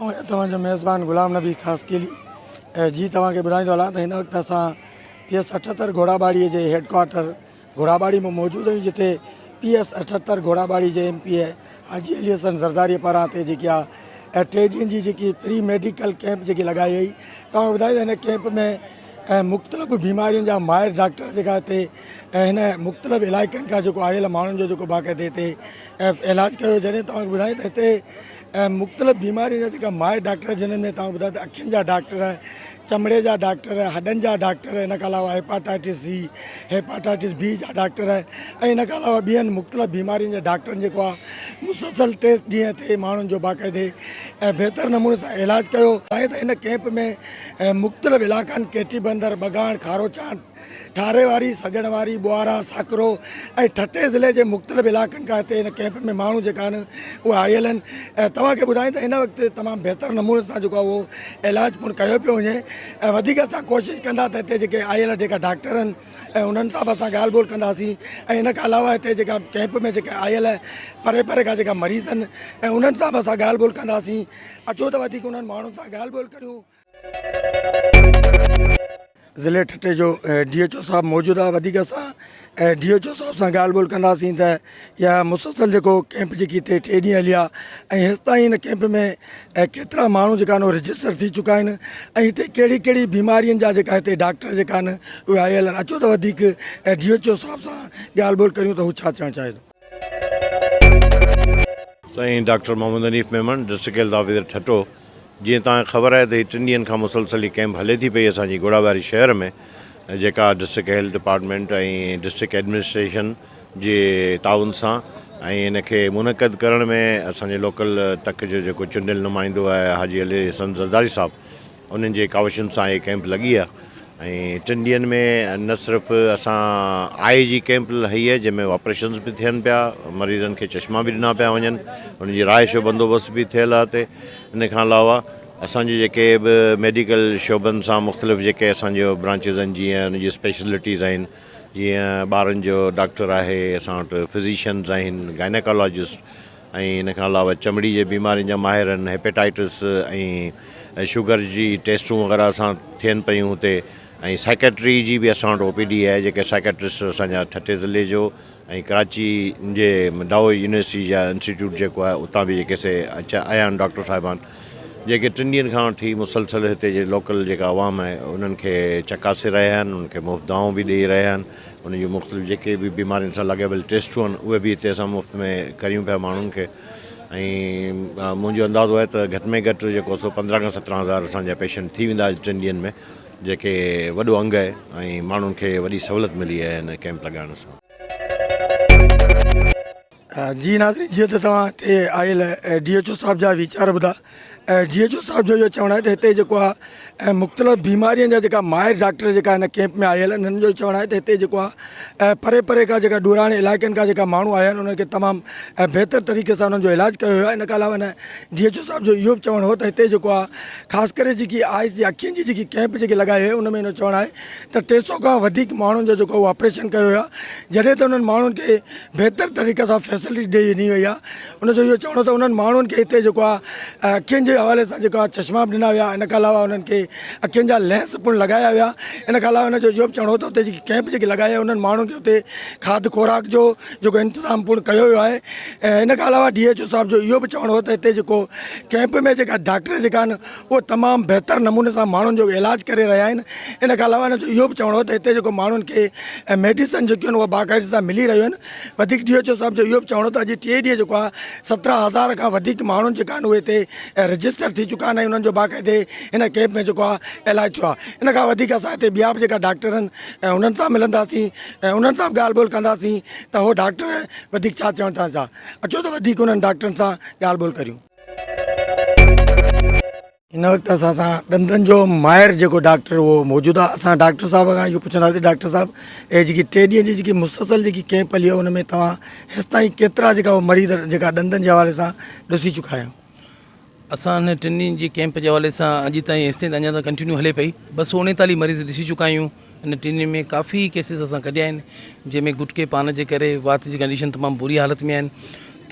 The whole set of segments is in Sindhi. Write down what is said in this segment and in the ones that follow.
آهيان توهان جو ميزبان غلام نبي خاصخيلي ۽ جي توهان کي ٻڌائيندو هلان ته هن وقت اسان پي ايس اٺهتر گهوڙاٻاڙي جي هيڊ ڪوارٽر گهوڙاٻاڙي ۾ موجود آهيون جتي پي ايس اٺهتر گهوڙاٻاڙي جي M P A Haji Ali Hassan Zardari پاران هتي جيڪي آ ٽي ڏينهن جي جيڪي فري ميڊيڪل ڪيمپ جيڪي لڳائي وئي توهان کي ٻڌائيندو هن ڪيمپ ۾ ۽ مختلف بيمارين جا ماهر ڊاڪٽر جيڪا هتي ۽ هن مختلف علائقن کان جيڪو آيل ماڻهن جو جيڪو باقاعدي هتي علاج ڪيو جڏهن توهان کي ٻڌايان ته هتي ۽ مختلف بيمارين جا جيڪا ماهر ڊاڪٽر جنهن ۾ توهان ٻڌايان ته اکين جا ڊاڪٽر چمڙي جا ڊاڪٽر هڏن جا ڊاڪٽر ان کان علاوه هيپاٽائٽس سي هيپاٽائٽس بي جا ڊاڪٽر ۽ ان کان علاوه ٻين مختلف بيمارين جا ڊاڪٽرن جيڪو آهي مسلسل ٽي ڏينهن تي ماڻهن جو باقاعدي ۽ بهتر نموني سان علاج ڪيو ۽ هن ڪئمپ ۾ ۽ مختلف علائقن ڪيٽي بندر، ٻگاڻ، کاروچانڊ، ٺاري واري، سڄڻ واري، ٻوهارا، ساڪرو ۽ ٺٽي ضلعي جي مختلف علائقن کان هتي هن ڪئمپ ۾ ماڻهو جيڪا آهن اها آيل آهن ۽ توهان کي ٻڌايون ته هن وقت تمام بهتر نموني سان جيڪو اهو علاج پڻ ڪيو پيو وڃي ۽ وڌيڪ اسان ڪوشش ڪندا ته هتي جيڪي آيل جيڪا ڊاڪٽر آهن ۽ انهن سان به اسان ڳالهه ٻولهه ڪنداسين ۽ ان کان علاوه هتي جيڪا ڪئمپ ۾ جيڪا آيل پري پري کان جيڪا مريض آهن ۽ انهن سان به اسان ڳالهه ٻولهه ڪنداسين اچو ته وڌيڪ انهن ماڻهن سان ڳالهه ٻولهه ڪريون. ضلعي ٺٽي جو ڊي ايڇ او صاحب موجود آهي وڌيڪ اسان ڊي ايڇ او صاحب سان ڳالهه ٻولهه ڪنداسين ته يا مسلسل جيڪو ڪيمپ جيڪي هتي ٽي ڏينهن هليا ۽ هيستائين هن ڪيمپ ۾ ڪيترا ماڻهو جيڪا آهن اهي رجسٽر ٿي چڪا آهن ۽ هتي ڪهڙي ڪهڙي بيمارين جا جيڪا هتي ڊاڪٽر جيڪا آهن اهي آيل آهن اچو ته وڌيڪ ڊي ايڇ او صاحب سان ڳالهه ٻولهه ڪريون ته هو ڇا چوڻ چاهي ٿو. سائين doctor Muhammad Hanif Memon district health officer Thatta جيئن توهان کي خبر آهي ته هي ٽن ڏينهن کان مسلسل هي ڪيمپ هلي ٿي پئي اسان جي گهوڙا واري شهر ۾ جيڪا district health department ۽ district administration جي تعاون سان ۽ ان کي منعقد ڪرڻ ۾ اسان جي لوڪل تڪ جو جيڪو چونڊيل نمائندو آهي حاجي علي حسن زرداري صاحب انهن جي ڪاوشن سان هي ڪئمپ لڳي آهي ۽ ٽن ڏينهن ۾ نه صرف اسان آء جي ڪئمپ هي جنهن ۾ آپريشنز به ٿين پيا مريضن کي چشما به ڏنا پيا وڃن ان جي رهائش جو بندوبست به ٿيل آهي هتي ان کان علاوه اسان جي جيڪي به ميڊيڪل شعبن سان مختلف جيڪي اسان جو برانچز آهن جيئن ان جي اسپيشلٽيز آهن جيئن ٻارن جو ڊاڪٽر آهي، اسان وٽ فزيشنز آهن، گائنيڪالاجسٽ ۽ ان کان علاوه چمڙي جي بيمارين جا ماهر آهن، هيپيٽائيٽس ۽ شگر جي ٽيسٽون وغيره اسان ٿين پيون هتي ۽ سائيڪيٽري جي به اسان وٽ او پي ڊي آهي جيڪي سائيڪيٽرسٽ اسان جا ٺٽي ضلعي جو ۽ ڪراچي جي ڊائو يونيورسٽي جا انسٽيٽيوٽ جيڪو آهي اتان به جيڪي سي اچيا آيا آهن ڊاڪٽر صاحبان جيڪي ٽن ڏينهن کان وٺي مسلسل هتي جي لوڪل جيڪا عوام آهي انهن کي چڪاسي رهيا آهن انهن کي مفت دوائون به ڏئي رهيا آهن انهن جون مختلف جيڪي به بيمارين سان لاڳاپيل ٽيسٽون آهن اهي به هتي اسان مفت ۾ ڪريون پيا ماڻهن کي ۽ منهنجو اندازو آهي ته گهٽ ۾ گهٽ جيڪو سو پندرهن کان سترهن هزار اسان جا پيشنٽ ٿي ويندا ٽن ڏينهن ۾ جيڪي وڏو انگ آهي ۽ ماڻهن کي وڏي سهولت ملي آهي هن ڪئمپ لڳائڻ سان. جي ناظرين جيئن ته توهان هتي آيل ڊي ايڇ او صاحب جا ويچار ٻڌا ۽ ڊي ايڇ او صاحب جو اهو چوڻ آهي ته هتي جيڪو آهي مختلف بيمارين جا جيڪا ماهر ڊاڪٽر جيڪا هن ڪئمپ ۾ آيل آهن هنن جو چوڻ آهي ته هتي جيڪو آهي پري پري کان جيڪا ڏورانهين علائقن کان جيڪا ماڻهو آيا آهن انهن کي تمام بهتر طريقي سان انهن جو علاج ڪيو ويو آهي ان کان علاوه هن ڊي ايڇ او صاحب جو اهو به چوڻ هو ته هتي جيڪو آهي خاص ڪري جيڪي آء ايس جي اکين جي جيڪي ڪئمپ جيڪي لڳائي هي ان ۾ انهو چوڻ آهي ته ٽي سئو کان وڌيڪ ماڻهن جو جيڪو آپريشن ڪيو ويو آهي جڏهن ته انهن ماڻهن کي بهتر طريقي سان فيسلٽي ڏئي ڏني وئي آهي ان جو اهو چوڻ ته انهن ماڻهن کي هتي جيڪو آهي اکين جي حوالي سان جيڪو آهي چشما به ڏنا ويا ان کان علاوه انهن کي اکين جا لينس پڻ لڳايا ويا ان کان علاوه ان جو اهو به چوڻ هو ته هتي جيڪي ڪئمپ جيڪي لڳائي انهن ماڻهن کي هتي کاڌ خوراڪ جو جيڪو انتظام پڻ ڪيو ويو آهي ۽ ان کان علاوه ڊي ايڇ او صاحب جو اهو به چوڻ هو ته هتي جيڪو ڪيمپ ۾ جيڪا ڊاڪٽر جيڪا آهن اهو تمام بهتر نموني سان ماڻهن جو علاج ڪري رهيا آهن ان کان علاوه ان جو اهو به چوڻ هو ته هتي جيڪو ماڻهن کي ميڊيسن جيڪيون آهن اهو باقاعدي سان ملي رهيون آهن وڌيڪ ڊي ايڇ او صاحب جو اهو به چوڻ هو ته اڄ ٽي ڏينهن جيڪو آهي سترهن هزار کان وڌيڪ ماڻهن جيڪا آهن اهي هتي رجسٽر ٿي چڪا آهن ۽ انهن جو باقاعدي ان ڪيمپ ۾ جيڪو آهي علاج ٿيو آهي ان کان وڌيڪ اسان هتي ٻيا به جيڪا ڊاڪٽر آهن انهن سان ملنداسين ۽ انهن سان به ڳالهه ٻولهه ڪنداسين ته اهو ڊاڪٽر وڌيڪ ڇا چوڻ چاهن ٿا. اچو ته وڌيڪ انهن ڊاڪٽرن سان ڳالهه ٻولهه ڪريون. هن وقت اسان سان ڏندن جو ماهر جيڪو ڊاڪٽر اهو موجود آهي. اسان ڊاڪٽر صاحب کان اهو پڇنداسين ڊاڪٽر صاحب اهي جيڪي ٽي ڏينهن جي جيڪي مسلسل جيڪي ڪيمپ هلي ان ۾ توهان هيستائين ڪيترا جيڪا مريض جيڪا ڏندن جي حوالي سان ڏسي چڪا آهيو. اسان هن ٽن ڏينهن جي ڪيمپ جي حوالي سان اڄ تائين هيستائين ته اڃا ته ڪنٽينيو هلي پئي ٻه سؤ اڻيتاليهه مريض ڏسي چڪا آهيون ان ٽن ڏينهن ۾ ڪافي ڪيسز اسان ڪڍيا آهن جنهن ۾ گٽڪي پان جي ڪري وات جي ڪنڊيشن تمام بري حالت ۾ آهن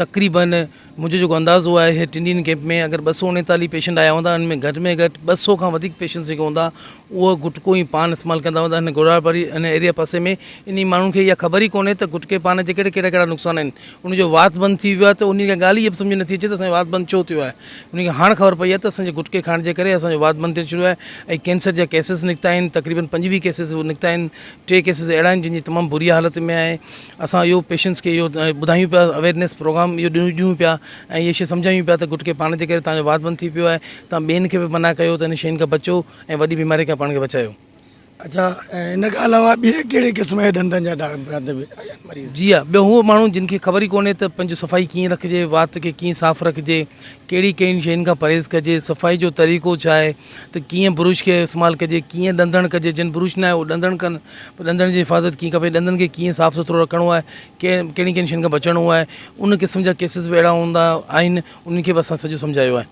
تقريبن منهنجو جيڪو اندازو آهي هي ٽن ڏينهن ڪيمپ ۾ اگر ٻه سؤ اڻيتاليهه پيشنٽ آيا هوندا ان ۾ گهٽ ۾ گهٽ ٻه سؤ کان وڌيڪ پيشنٽس جيڪي هوندا اهو گٽڪو ۽ پان استعمال ڪندا هوندا هن گوڙهار واري هن ايريا پاسي ۾ انهي ماڻهن کي اها خبر ئي ڪونهي ته گٽڪي پان جي ڪهڙا ڪهڙا نقصان آهن ان جو وات بند ٿي ويو آهي ته انهن کي ڳالهه ئي به سمجهه نٿي اچي ته اسان جو وات بند ڇو ٿيو آهي انهن کي هاڻ خبر پئي آهي ته اسان جي گٽڪي کائڻ جي ڪري اسان جو وات بند ٿيڻ شروع آهي ۽ ڪينسر جا ڪيسز نڪتا آهن تقريبن پنجويهه ڪيسز نڪتا آهن ٽي ڪيسز اهڙا آهن جن جي تمام بري حالت ۾ آهي اسان اهو پيشنٽس کي اهو ٻڌايون پيا اويرنيس پروگرام اهو ڏيون پيا ۽ اهي شيء سمجهايون پيا ته گٽڪي پاڻ جي ڪري تهانجو وات بند ٿي پيو آهي تهان ٻين کي به منع ڪيو ته ان شين کان بچو ۽ وڏي بيماري کان پاڻ کي بچايو. اڇا ۽ ان کان علاوه ٻيا ڪهڙي قسم جا ڏندن جا ڊاڪٽر به آيا آهن مريض. جي ها ٻيو هو ماڻهو جن کي خبر ئي ڪونهي ته پنهنجو صفائي ڪيئن رکجي وات کي ڪيئن صاف رکجي ڪهڙي ڪهڙين شين کان پرهيز ڪجي صفائي جو طريقو ڇا آهي ته ڪيئن برش کي استعمال ڪجي ڪيئن ڏندڻ ڪجي جن برش ناهي هو ڏندڻ ڪن پر ڏندڻ جي حفاظت ڪيئن کپي ڏندن کي ڪيئن صاف سٿرو رکڻو آهي ڪي ڪهڙين ڪهڙين شين کان بچڻو آهي ان قسم جا ڪيسز به اهڙا هوندا آهن انهن کي به اسان سڄو سمجهايو آهي.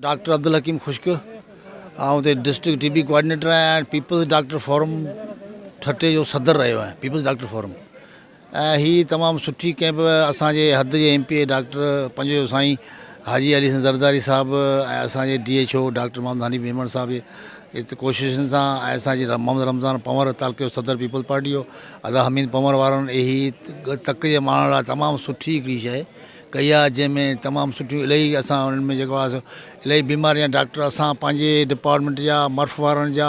ڊاڪٽر عبدالحڪيم خشڪ آئون هتي ڊسٽرڪٽ ٽي بي ڪوآرڊينيٽر آهيان ۽ پيپلز ڊاڪٽر فورم ٺٽي جو صدر رهيو آهيان پيپلز ڊاڪٽر فورم ۽ هي تمام سٺي ڪئين به اسان جي حد جي ايم پي اي ڊاڪٽر پنجويو سائين حاجي علي حسن زرداري صاحب ۽ اسان جي D H O doctor Muhammad Hanif Memon صاحب جي ات ڪوششن سان ۽ اسان جي محمد رمضان پنور تعلقي جو صدر پيپلز پارٽي جو ادا حميد پنور وارن هي تڪ جي ماڻهن لاء تمام سٺي هڪڙي شيء ڪئي آهي جنهن ۾ تمام سٺيون الائي اسان انهن ۾ جيڪو آهي سو الائي بيماريان ڊاڪٽر اسان پنهنجي ڊپارٽمينٽ جا مرف وارن جا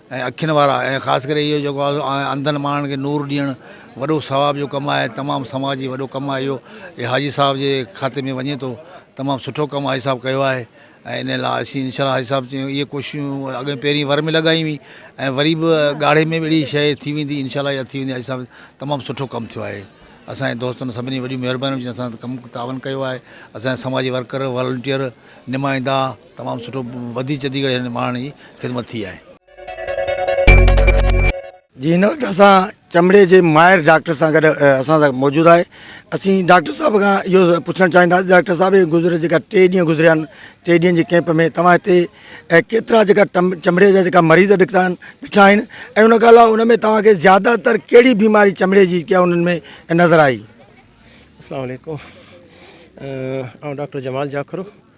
۽ اکين وارا ۽ خاص ڪري اهو جيڪو آهي سو انڌن ماڻهن کي نور ڏيڻ وڏو ثواب جو ڪم آهي تمام سماج جي وڏو ڪم آهي اهو اي حاجي صاحب جي کاتي ۾ وڃي ٿو تمام سٺو ڪم حاجي صاحب ڪيو آهي ۽ ان لاء اسين ان شاء الله حاجي صاحب جون اهي ڪوششون اڳي پهرين ور ۾ لڳائي هئي ۽ وري به ڳاڙهي ۾ به اهڙي شيء ٿي ويندي ان شاء الله اها ٿي ويندي حاجي صاحب تمام سٺو ڪم ٿيو آهي اسانجي دوستن سڀني وڏيون مهربانيون جن اسان سان ڪم تعاون ڪيو آهي اسانجا سماجي ورڪر والنٽير نمائندا تمام سٺو وڌي چڌي ڪري هن ماڻهن جي خدمت ٿي آهي. جي هن وقت اسان چمڙي جي ماهر ڊاڪٽر سان گڏ اسان سان موجود آهي اسين ڊاڪٽر صاحب کان اهو پڇڻ چاهينداسين ڊاڪٽر صاحب هي گذريل جيڪا ٽي ڏينهن گذريا آهن ٽي ڏينهن جي ڪيمپ ۾ توهان هتي ڪيترا جيڪا چمڙي جا جيڪا مريض ڏٺا آهن ڏٺا آهن ۽ ان کان علاوه ان ۾ توهان کي زياده تر ڪهڙي بيماري چمڙي جي ڪيا انهن ۾ نظر آئي. اسلام عليڪم آئون ڊاڪٽر جمال جاکرو.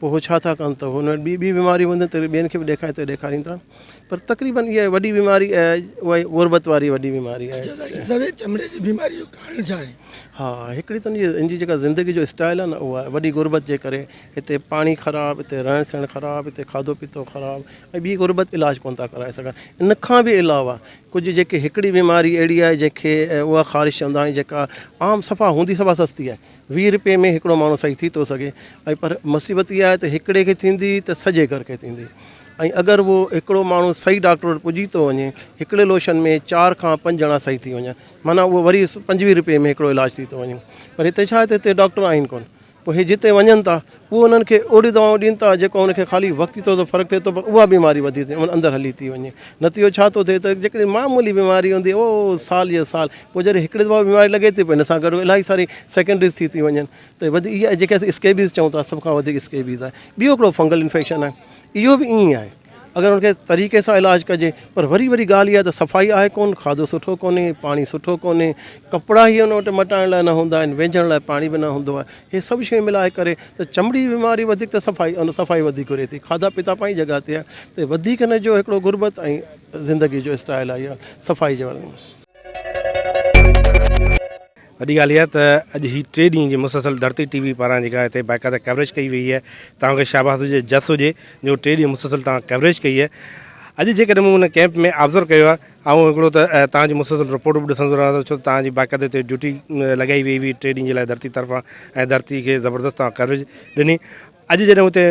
پوء اهي ڇا ٿا ڪن ته هن وٽ ٻيون بيماريون هونديون ته ٻين کي به ڏيکاري ته ڏيکارين ٿا پر تقريبن اها وڏي بيماري اها غربت واري وڏي بيماري آهي. اچا سائين چمڙي جي بيماري جو ڪارڻ ڇا آهي؟ ها هڪڙي ته ان جي جيڪا زندگي جو اسٽائل آهي نه اهو آهي وڏي غربت جي ڪري هتي پاڻي خراب هتي رهڻ سهڻ خراب هتي کاڌو پيتو خراب ۽ ٻي غربت علاج ڪونه ٿا ڪرائي سگهن ان کان به علاوه ڪجهه جيڪي هڪڙي بيماري اهڙي آهي جنهن کي اها خارش چوندا آهيون جيڪا عام صفا هوندي صفا سستي آهي ويهه رپئي ۾ هڪڙو ماڻهو صحيح ٿي ٿو سگهي ۽ پر مصيبت اها آهي ته هڪڙي کي ٿيندي ته سڄي گهر کي ٿيندي ۽ اگر هو هڪڙو ماڻهو صحيح ڊاڪٽر وٽ پڄي ٿو وڃي هڪڙي لوشن ۾ چار کان پنج ڄڻا صحيح ٿي وڃن معنيٰ اهو وري پنجويهه رپئي ۾ هڪڙو علاج ٿي ٿو وڃي پر هتي ڇا هتي ڊاڪٽر آهن ڪونه پوء هي جتي وڃن ٿا اهي انهن کي اهڙيون دوائون ڏين ٿا جيڪو انهن کي خالي وقتي طور تي فرق ٿئي ٿو پر اها بيماري وڌي ٿي ۽ اندر هلي ٿي وڃي. نتيجو ڇا ٿو ٿئي ته جيڪڏهن معمولي بيماري هوندي اهو سال يا سال پوء جڏهن هڪڙي دفعي بيماري لڳي ٿي پوء ان سان گڏ الائي ساري سيڪنڊريز ٿي ٿيون وڃن ته وڌيڪ اها جيڪي اسين اسڪيبيز چئون ٿا سڀ کان وڌيڪ اسڪيبيز آهي. ٻيو هڪڙو فنگل انفيڪشن آهي اهو به ائين ئي آهي. اگر ان کي طريقي سان علاج ڪجي پر وري وري ڳالهه اها ته صفائي آهي ڪون کاڌو سٺو ڪونهي پاڻي سٺو ڪونهي ڪپڙا هي ان وٽ مٽائڻ لاء نه هوندا آهن ويجهڻ لاء پاڻي به نه هوندو آهي هي سڀ شيون ملائي ڪري ته چمڙي جي بيماري وڌيڪ ته صفائي ان صفائي وڌيڪ گهري ٿي کاڌا پيتا پنهنجي جڳهه تي آهي ته وڌيڪ هن جو هڪڙو غربت ۽ زندگي جو اسٽائل آهي اها صفائي جي وارن وڏي ڳالهه اها ته اڄ هي ٽي ڏينهن جي مسلسل ڌرتي ٽي وي پاران جيڪا هتي باقاعده ڪوريج ڪئي وئي آهي توهان کي شاباس هجي جس هجي جو ٽي ڏينهن مسلسل توهان ڪوريج ڪئي آهي اڄ جيڪڏهن مون ان ڪيمپ ۾ آبزرو ڪيو آهي آئون هڪڙو ته توهان جي مسلسل رپورٽ به ڏسندو رهان ٿو ڇو توهان جي باقاعده هتي ڊيوٽي لڳائي وئي هئي ٽي ڏينهن جي لاء ڌرتي طرفان ۽ ڌرتي کي زبردست توهان ڪوريج ڏني اڄ جڏهن هتي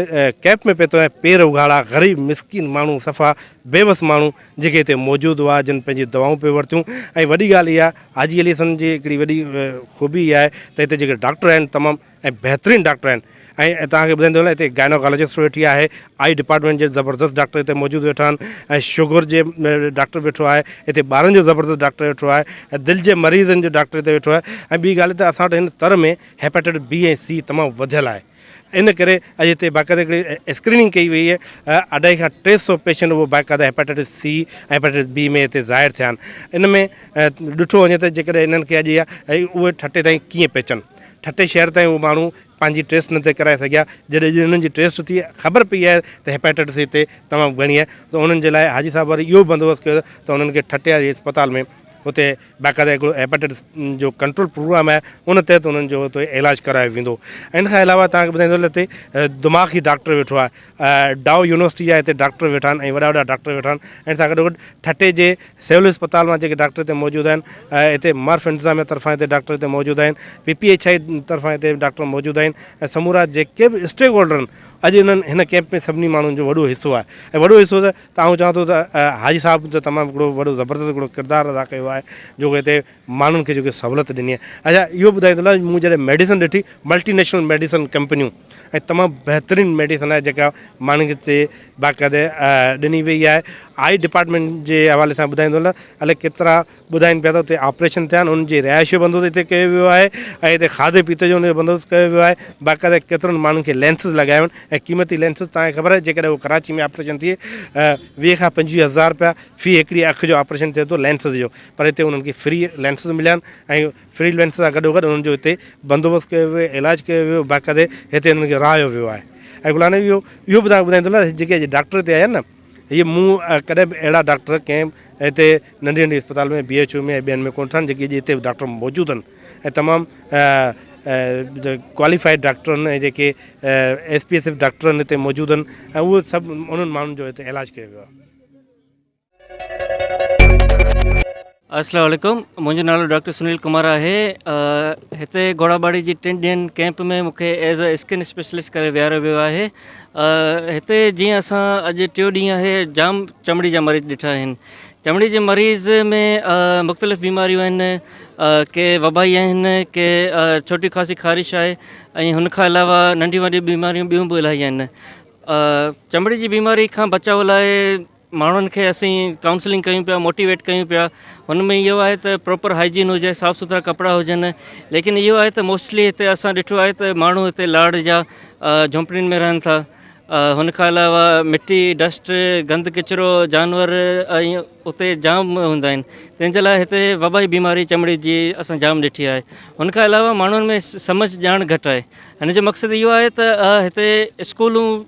ڪئمپ ۾ پهتو آهيان، پير اگهاڙا، غريب مسڪين ماڻهو، صفا بيوس ماڻهو جيڪي هتي موجود هئا، جن پنهنجي دعائون پئي ورتيون ۽ وڏي ڳالهه اها حاجي علي حسن جي هڪڙي وڏي خوبي اها آهي ته هتي جيڪي ڊاڪٽر آهن تمام ۽ بهترين ڊاڪٽر آهن ۽ توهان کي ٻڌائيندو هلان هتي گائنوڪالوجسٽ به ويٺي آهي، آئي ڊپارٽمينٽ جي زبردست ڊاڪٽر هتي موجود ويٺا آهن ۽ شگر جي ڊاڪٽر به ويٺو آهي، هتي ٻارن جو زبردست ڊاڪٽر ويٺو آهي ۽ دل جي مريضن جو ڊاڪٽر هتي ويٺو آهي ۽ ٻي ڳالهه ته اسان وٽ هن تر ۾ هيپاٽائٽس بي ۽ سي تمام وڌيل آهي. ان ڪري اڄ هتي باقاعده هڪڙي اسڪريننگ ڪئي وئي آهي، اڍائي کان ٽي سئو پيشنٽ اهو باقاعده هيپاٽائٽس سي ۽ هيپاٽائٽس بي ۾ هتي ظاهر ٿيا آهن، ان ۾ ڏٺو وڃي ته جيڪڏهن انهن کي اڄ اهي ٺٽي تائين ڪيئن پهچن، ٺٽي شهر تائين اهي ماڻهو پنهنجي ٽيسٽ نه ٿي ڪرائي سگهيا، جڏهن اڄ انهن جي ٽيسٽ ٿي خبر پئي آهي ته هيپاٽائٽس سي هتي تمام گهڻي آهي ته انهن جي لاء حاجي صاحب وري اهو بندوبست ڪيو ته انهن کي ٺٽي واري اسپتال ۾ هتي باقاعده هڪڙو هيپاٽائٽس جو ڪنٽرول پروگرام آهي ان تحت انهن جو هتي علاج ڪرايو ويندو ۽ ان کان علاوه توهان کي ٻڌائيندو هلان هتي دماغ جي ڊاڪٽر ويٺو آهي ڊائو يونيورسٽي جا هتي ڊاڪٽر ويٺا آهن ۽ وڏا وڏا ڊاڪٽر ويٺا آهن ۽ ان سان گڏو گڏ ٺٽي جي سول اسپتال مان جيڪي ڊاڪٽر هتي موجود آهن هتي مرف انتظاميه طرفان هتي ڊاڪٽر هتي موجود آهن پي پي ايڇ آء طرفان هتي ڊاڪٽر موجود آهن ۽ سمورا جيڪي به اسٽيڪ هولڊر آهن اڄ انهن هن ڪيمپ ۾ سڀني ماڻهن جو وڏو حصو آهي ۽ وڏو حصو ته آئون چوان ٿو ته حاجي صاحب ته تمام هڪڙو وڏو زبردست هڪڙو ڪردار ادا ڪيو آهي جو ڪو هتي ماڻهن کي جيڪي سهولت ڏني آهي اچا اهو ٻڌائيندو لاء مون جڏهن ميڊيسن ڏٺي ملٽي نيشنل ميڊيسن ڪمپنيون ۽ تمام بهترين ميڊيسن آهي جيڪا ماڻهن کي هتي باقاعده ڏني وئي آهي آئي ڊپارٽمينٽ جي حوالي سان ٻڌائيندو هلان الائي ڪيترا ٻڌائين پيا ته اتي آپريشن ٿيا آهن، انهن جي رهائش جو بندوبست اتي ڪيو ويو آهي ۽ اتي کاڌي پيتي جو انهن جو بندوبست ڪيو ويو آهي، باقاعده ڪيترن ماڻهن کي لينسز لڳايا ويا آهن ۽ قيمتي لينسز توهان کي خبر آهي جيڪڏهن اهو ڪراچي ۾ آپريشن ٿئي ويهه کان پنجويهه هزار رپيا في هڪڙي اک جو آپريشن ٿئي ٿو لينسز جو پر هتي انهن کي فري لينسز مليا آهن ۽ فري لينسز سان گڏوگڏ انهن جو هتي بندوبست ڪيو ويو آهي علاج ڪيو ويو باقاعده هتي انهن کي رهايو ويو آهي ۽ گل آنٽي اهو اهو به توهان کي ٻڌائيندو هلان جيڪي اڄ ڊاڪٽر هتي آيا آهن نه هي مون ڪڏهن به اهڙا ڊاڪٽر ڪنهن هتي ننڍي ننڍي اسپتال ۾ بي ايڇ او ۾ ۽ ٻين ۾ ڪونه ٺاهن جيڪي اڄ هتي ڊاڪٽر موجود آهن ۽ تمام ڪواليفائيڊ ڊاڪٽر آهن ۽ جيڪي S P S F doctor آهن هتي موجود آهن ۽ اهي سڀ انهن ماڻهن جو هتي علاج ڪيو ويو آهي. السلام عليڪم منهنجو نالو ڊاڪٽر سنيل ڪمار آهي هتي گهوڙاٻاڙي جي ٽن ڏينهن ڪئمپ ۾ مون کي ايز اي اسڪن اسپيشلسٽ ڪري ويهاريو ويو آهي هتي جيئن اسان اڄ ٽيو ڏينهن آهي جام چمڙي جا مريض ڏٺا آهن چمڙي جي مريض ۾ مختلف بيماريون آهن ڪي وبائي آهن ڪي ڇوٽي خاصي خارش آهي ۽ هن کان علاوه ننڍيون وڏيون بيماريون ٻيون به الاهي آهن چمڙي جي بيماري کان بچاء لاء ماڻهن کي اسين ڪائونسلنگ ڪيون پيا موٽيويٽ ڪيون پيا ان ۾ اهو آهي ته پروپر هائجين هجي صاف سٿرا ڪپڙا هجن ليڪن اهو آهي ته موسٽلي هتي اسان ڏٺو آهي ته ماڻهو هتي لاڙ جا جھونپڙين ۾ رهن ٿا هن کان علاوه مٽي ڊسٽ گند ڪچرو جانور ۽ اتي جام هوندا آهن تنهن جي لاء هتي وبائي بيماري چمڙي جي اسان جام ڏٺي آهي هن کان علاوه ماڻهن ۾ سمجھ ڄاڻ گھٽ آهي هن جو مقصد اهو آهي ته هتي اسڪولون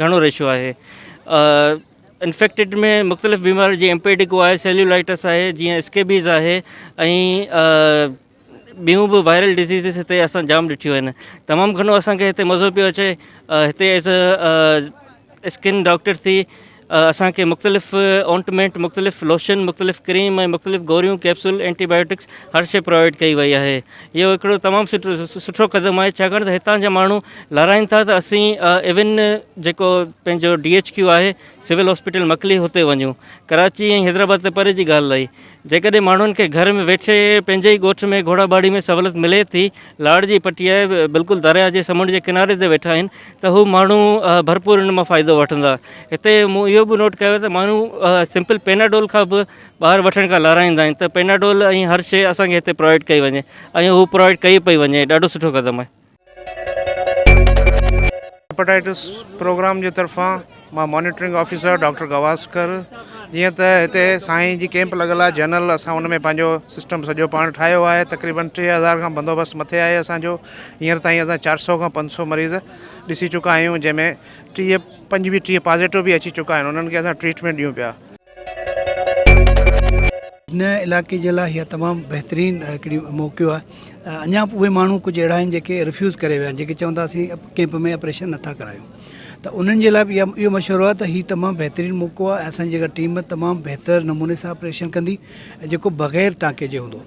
گهڻو ريشو آهي انفيڪٽيڊ ۾ مختلف بيماري جي امپيڊڪو آهي سيلولائٽس آهي جيئن اسڪيبيز آهي ۽ ٻيون به وائرل ڊزيزز هتي اسان جام ڏٺيون آهن تمام گهڻو اسانکي هتي مزو پيو اچي هتي ايز اسڪن ڊاڪٽر ٿي اسانکي مختلف اونٽمينٽ مختلف لوشن مختلف ڪريم ۽ مختلف گوريون ڪيپسول اينٽي بايوٽڪس هر شي پرووائيڊ ڪئي وئي آهي اهو هڪڙو تمام سٺو قدم آهي ڇاڪاڻ ته هتان جا ماڻهو لارائن ٿا ته اسين ايون جيڪو پنهنجو ڊي ايڇ ڪيو آهي سول هاسپيٽل مڪلي هتي وڃون ڪراچي ۽ حيدرآباد ته پري جي ڳالهه رهي جيڪڏهن ماڻهن کي گهر ۾ ويٺي پنهنجي ئي ڳوٺ ۾ گهوڙا ٻاڙي ۾ سهولت ملي ٿي لاڙ جي پٽي آهي بلڪل درياء جي سمنڊ جي ڪناري تي ويٺا آهن ته هو ماڻهو ڀرپور ان مان فائدو وٺندا هتي مون اهو به نوٽ ڪيو ته ماڻهو سمپل پيناڊول کان به ٻاهر وٺڻ کان لارائيندا آهن ته پيناڊول ۽ هر شيء اسان کي هتي پرووائيڊ ڪئي وڃي ۽ هو پرووائيڊ ڪئي پئي وڃي ڏاڍو سٺو قدم آهي. هيپاٽائٽس پروگرام جي طرفان مان مانيٽرنگ آفيسر ڊاڪٽر گواسڪر جيئن ته هتي سائين جي ڪيمپ لڳل آهي جنرل اسان ان ۾ پنهنجو سسٽم سڄو پاڻ ٺاهيو آهي تقريبن ٽي هزار کان بندوبست مٿي آهي اسان جو هينئر تائين اسان چار سؤ کان پنج سؤ مريض ڏسي چڪا آهيون جنهن ۾ ٽيهه پنجويهه ٽيهه پازيٽو به اچي چڪا آهن انهن کي اسان ٽريٽمينٽ ڏيون پيا هن علائقي جي لاء اها تمام بهترين هڪڙي موقعو آهي اڃا به اهي ماڻهو ڪجهه اهڙا آهن جيڪي رفيوز ڪري ويا آهن جيڪي چون ٿا اسين ڪيمپ ۾ آپريشن نٿا ڪرايون ته انهن جي لاء به اها اهو مشورو آهي ته هي تمام بهترين موقعو آهي اسان جي اها ٽيم تمام بهتر نموني سان آپريشن ڪندي جيڪو بغير ٽانڪي جي هوندو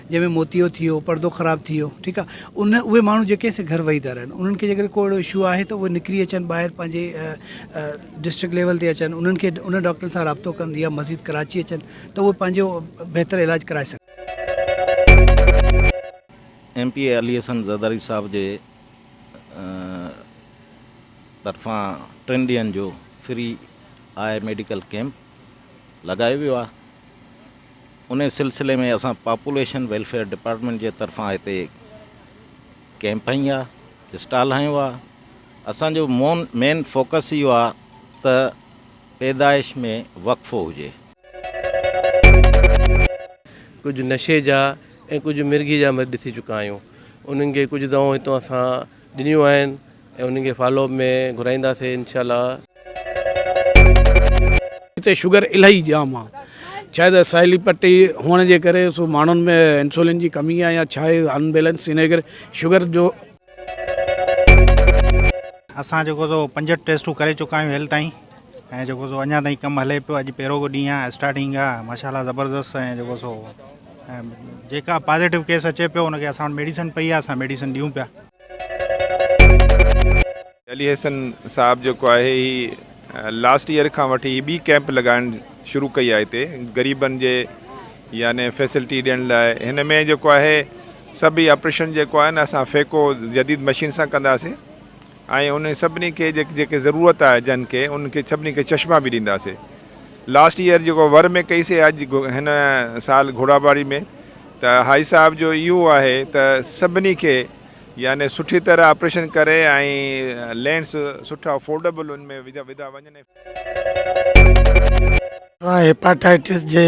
جنهن ۾ موتيو ٿي ويو پردو خراب ٿي ويو ٺيڪ آهي ان اهي ماڻهو جيڪي آهن سي گهر ويهي ٿا رهن انهن کي جي ڪڏهن ڪو اهڙو اشو آهي ته اهي نڪري اچن ٻاهر پنهنجي ڊسٽرڪٽ ليول تي اچن انهن کي انهن ڊاڪٽرن سان رابطو ڪن يا مزيد ڪراچي اچن ته اهي پنهنجو بهتر علاج ڪرائي سگهن. M P A Ali Hassan Zardari sahib جي طرفان ٽن ڏينهن جو فري آء ميڊيڪل ڪيمپ لڳايو ويو آهي انهي سلسلي ۾ اسان پاپوليشن ويلفيئر ڊپارٽمينٽ جي طرفان هتي ڪيمپ هنيا اسٽال هنيو آ اسان جو مون مين فوڪس اهو آ ته پيدائش ۾ وقفو هجي. ڪجهه نشي جا ۽ ڪجهه مرگي جا مريض ٿي چڪا آهيون انهن کي ڪجهه دوائون هتو اسان ڏنيون آهن. ۽ انهن کي فالو اپ ۾ گهرائينداسي انشاء الله. هتي شگر الائي جام آ شايد ساحلي پٽي هئڻ جي ڪري سو ماڻهن ۾ انسولين جي ڪمي آ يا ڇا آهي ان بيلنس انهي ڪري شگر جو. اسان جيڪو سو پنجهٺ ٽيسٽون ڪري چڪا آهيون هيل تائين ۽ جيڪو سو اڃان تائين ڪم هلي پيو اڄ پهرو ڏينهن آهي اسٽارٽنگ آ ماشا الله زبردست ۽ جيڪو سو ۽ جيڪا پازيٽو ڪيس اچي پيو ان کي اسان وٽ ميڊيسن پئي آ اسان ميڊيسن ڏيون پيا. علي احسن صاحب جيڪو آهي هي لاسٽ ايئر کان وٺي هي ٻي ڪيمپ لڳائڻ شروع ڪئي آهي هتي غريبن جي يعني فيسلٽي ڏيڻ لاء هن ۾ جيڪو آهي سڀ آپريشن جيڪو آهي نه اسان فيڪو جديد مشين سان ڪنداسي ۽ ان سڀني کي جيڪي ضرورت آهي جن کي ان کي سڀني کي چشما به ڏينداسي لاسٽ ييئر جيڪو ور ۾ ڪئي سي اڄ هن سال گهوڙاٻاري ۾ ته هائي صاحب جو اهو آهي ته سڀني کي يعني سٺي طرح آپريشن ڪري ۽ لينس سٺا افورڊبل ان ۾ وڌا وڃن ۽ هيپاٽائيٽس جي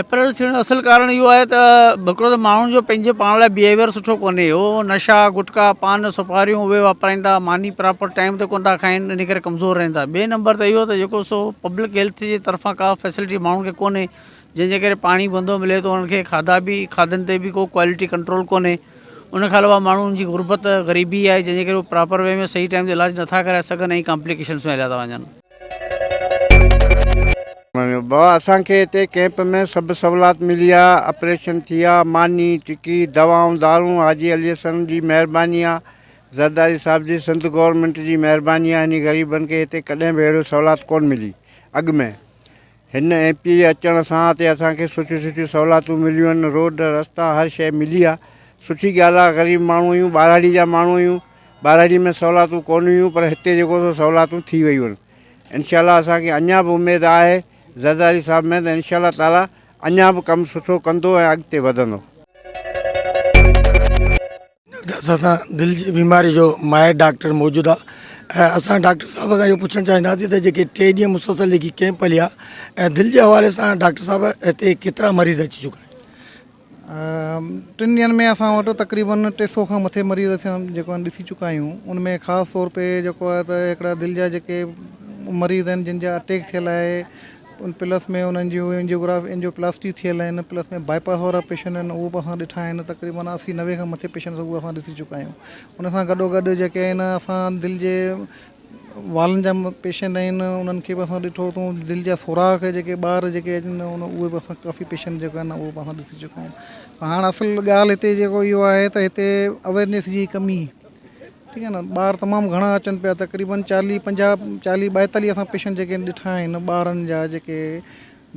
ايپريل ٿيڻ جو اصل ڪارڻ اهو آهي ته هڪڙو ته ماڻهن جو پنهنجي پاڻ لاء بيهيويئر سٺو ڪونهي هو نشا گٽڪا پان سپاريون اهي واپرائيندا ماني پراپر ٽائيم تي ڪونه ٿا کائين ان ڪري ڪمزور رهن ٿا ٻئي نمبر تي اهو ته جيڪو سو پبلڪ هيلٿ جي طرفان ڪا فيسلٽي ماڻهن کي ڪونهي جنهن جي ڪري پاڻي گندو ملي ٿو انهن کي کاڌا بي کاڌن تي بي ڪو ڪوالٽي ڪنٽرول ڪونهي ان کان علاوه ماڻهن جي غربت غريبي آهي جنهن جي ڪري هو پراپر وي ۾ صحيح ٽائيم تي علاج نٿا ڪرائي سگهن ۽ ڪامپليڪيشنس ۾ هليا ٿا وڃن بابا اسان کي هتي ڪئمپ ۾ سڀ سولات ملي آ اپريشن ٿي آ ماني ٽڪي دوائون دارون حاجي علي حسن جي مهرباني آ زرداري صاحب جي سنڌ گورنمينٽ جي مهرباني آ هني غريبن کي هتي ڪڏهن به اهڙو سولات ڪون ملي اڳ ۾ هن ايم پي اي اچڻ سان تي اسان کي سٺيون سٺيون سهولاتون مليون آهن روڊ رستا هر شيء ملي آهي سٺي ڳالهه آهي غريب ماڻهو آهيون ٻاراڙي جا ماڻهو آهيون ٻاراڙي ۾ سهولاتون ڪون هيون پر هتي جيڪو سو سهولاتون ٿي ويون آهن انشاء الله اسان کي اڃا به اميد آهي زرداري صاحب ۾ ته انشاء الله تعاليٰ اڃا به ڪم سٺو ڪندو ۽ اڳتي وڌندو. ته اسان سان دل جي بيماري جو ماهر ڊاڪٽر موجود آ ۽ اسان ڊاڪٽر صاحب کان اهو پڇڻ چاهينداسي ته جيڪي ٽي ڏينهن مسلسل جيڪي ڪيمپ هليا ۽ دل جي حوالي سان ڊاڪٽر صاحب هتي ڪيترا مريض اچي چڪا آهن؟ ٽن ڏينهن ۾ اسان وٽ تقريبن ٽي سؤ کان مٿي مريض اسان جيڪو آهن ڏسي چڪا آهيون ان ۾ خاص طور تي جيڪو آهي ته هڪڙا دل جا جيڪي مريض آهن جن جا اٽيڪ ٿيل آهي ان پلس ۾ انهن جي اينجيوگراف اينجيوپلاسٽي ٿيل آهن پلس ۾ باء پاس وارا پيشنٽ آهن اهو به اسان ڏٺا آهن تقريبن اسي نوي کان مٿي پيشنٽ اهو اسان ڏسي چڪا آهيون ان سان گڏو گڏ جيڪي آهن اسان دل جي والن جا پيشنٽ آهن انهن کي به اسان ڏٺو اٿئون دل جا سوراخ جيڪي ٻار جيڪي اچن ٿا ان اهي به اسان ڪافي پيشنٽ جيڪو آهن اهو به اسان ڏسي چڪا آهيون هاڻ اصل ڳالهه هتي جيڪو اهو آهي ته هتي اويرنيس جي ڪمي ٺيڪ آهي نه ٻار تمام گهڻا اچن پيا تقريبن چاليهه پنجاهه چاليهه ٻائيتاليهه اسان پيشنٽ جيڪي ڏٺا آهن ٻارن جا جيڪي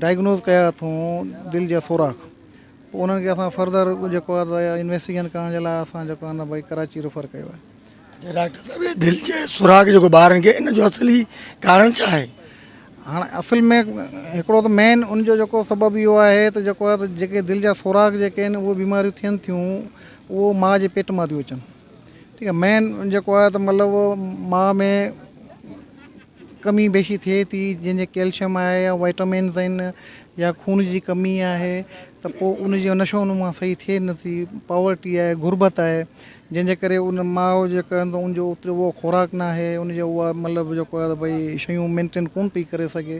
ڊائگنوز ڪيا اٿئون دل جا سوراخ پوء انهن کي اسان فرڌر جيڪو آهي انويسٽيگيشن ڪرڻ جي لاء اسان جيڪو آهي بھي ڪراچي ريفر ڪيو آهي اچا ڊاڪٽر صاحب هي دل جي سوراخ جيڪو ٻارن کي ان جو اصلي ڪارڻ ڇا آهي هاڻ اصل ۾ هڪڙو ته مين ان جو جيڪو سبب اهو آهي ته جيڪو آهي ته جيڪي دل جا سوراخ جيڪي آهن اهي بيماريون ٿين ٿيون اهو ماء جي پيٽ مان ٿيون اچن ٺيڪ آ مين جيڪو آ ته مطلب ماء ۾ ڪمي بيشي ٿئي ٿي جنهن جي ڪيلشم آهي يا وائٽامنس آهن يا خون جي ڪمي آهي ته پو ان جي نشو نما صحيح ٿئي نٿي پاورٽي آهي غربت آهي جنهن جي ڪري ان ماء جيڪا آهن ان جو اهو خوراڪ ناهي ان جو مطلب جيڪو آ ته ڀئي شيون مينٽين ڪون پئي ڪري سگهي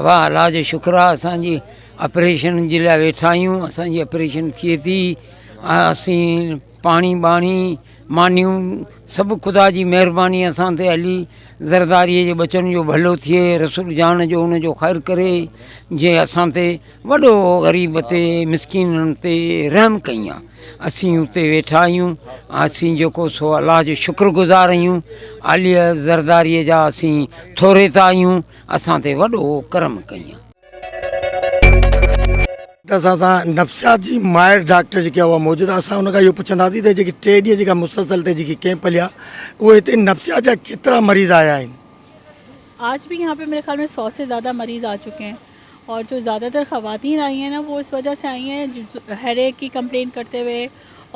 اوهان الله جو شڪر آهي اسان جي اپريشن جي لاء ويٺا آهيون اسان جي اپريشن ٿئي ٿي اسين پاڻي ٻاڻي مانيون سڀ خدا جي مهرباني اسان تي علي زرداري جي ٻچن جو ڀلو ٿئي رسول جان جو ان جو خير ڪري جي اسان تي وڏو غريب تي مسڪينن تي رحم ڪئين آ اسين اتي ويٺا آهيون اسين جيڪو سو الله جو شڪر گذار آهيون علي زرداري جا اسين ٿوري ته آهيون اسان تي وڏو ڪرم ڪئين آ. ته اسان سان نفسيات جي ماهر ڊاڪٽر جيڪي آ اها موجود آ اسان ان کان اهو پڇنداسين ته جيڪي ٽي ڏينهن جيڪا مسلسل تي جيڪي ڪيمپ هليا اهي هتي نفسيات جا ڪيترا مريض آيا آهن. آج به يهان پي ميري خيال مين سو سي زياده مريض آ چڪي هين. اور جو زياده تر خواتين آئي هين نا وو اس وجه سي آئي هين هر ايڪ ڪي ڪمپلين ڪرتي هوئي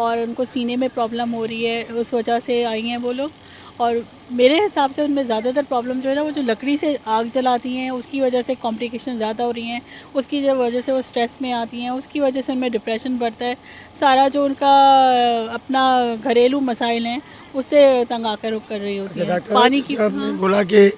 اور انڪو سيني مي پرابلم هو رهي هي اس وجه سي آئي هين وو لوگ اور ميري حساب سي ان مي زياده تر پرابلم جو هي نا وو جو لڪڙي سي آگ جلاتي هين اس ڪي وجه سي ڪمپليڪيشن زياده هو رهي هين اس ڪي جو وجه سي وو اسٽريس مي آتي هين اس ڪي وجه سي ان مي ڊپريشن بڙتا هي سارا جو انڪا اپنا گهريلو مسائل هين اس سي تنگ آڪر هو ڪر رهي هوتي هين پاني ڪي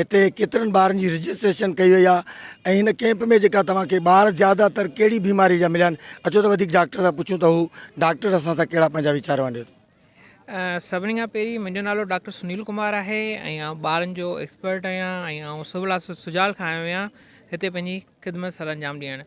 هتي ڪيترن ٻارن جي رجسٽريشن ڪئي وئي آهي ۽ هن ڪيمپ ۾ جيڪا توهان کي ٻار زياده تر ڪهڙي بيماري جا مليا آهن اچو ته وڌيڪ ڊاڪٽر سان پڇون ته هو ڊاڪٽر اسان سان ڪهڙا پنهنجا ويچار ونڊين ٿو. سڀني کان پهرين منهنجو نالو ڊاڪٽر سنيل ڪمار آهي ۽ آئون ٻارن جو ايڪسپرٽ آهيان ۽ آئون سول هاسپيٽل سجال کان آيو آهيان هتي پنهنجي خدمت سرانجام ڏيڻ